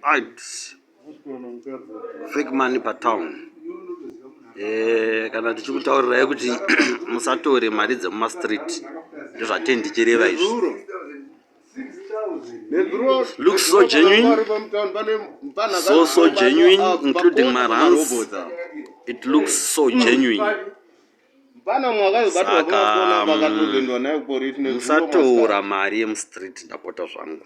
Ads. Fake money per town. Eh, kana tichikutaurirai kuti musatore mari dzemuma street ndozvatei ndichireva izvi looks so genuine so so genuine including marans it looks so hmm. genuine saka mm, musatora mari yemustreet ndapota zvangu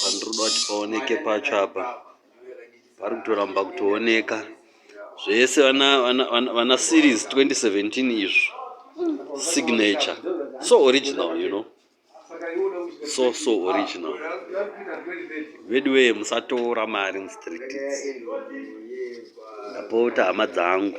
Pandinoda kuti paoneke pacho apa pari kutoramba kutooneka zvese vana, vana, vana, vana series 2017 izvo signature so original you know so so original veduwee musatora mari mustreet ndapota hama dzangu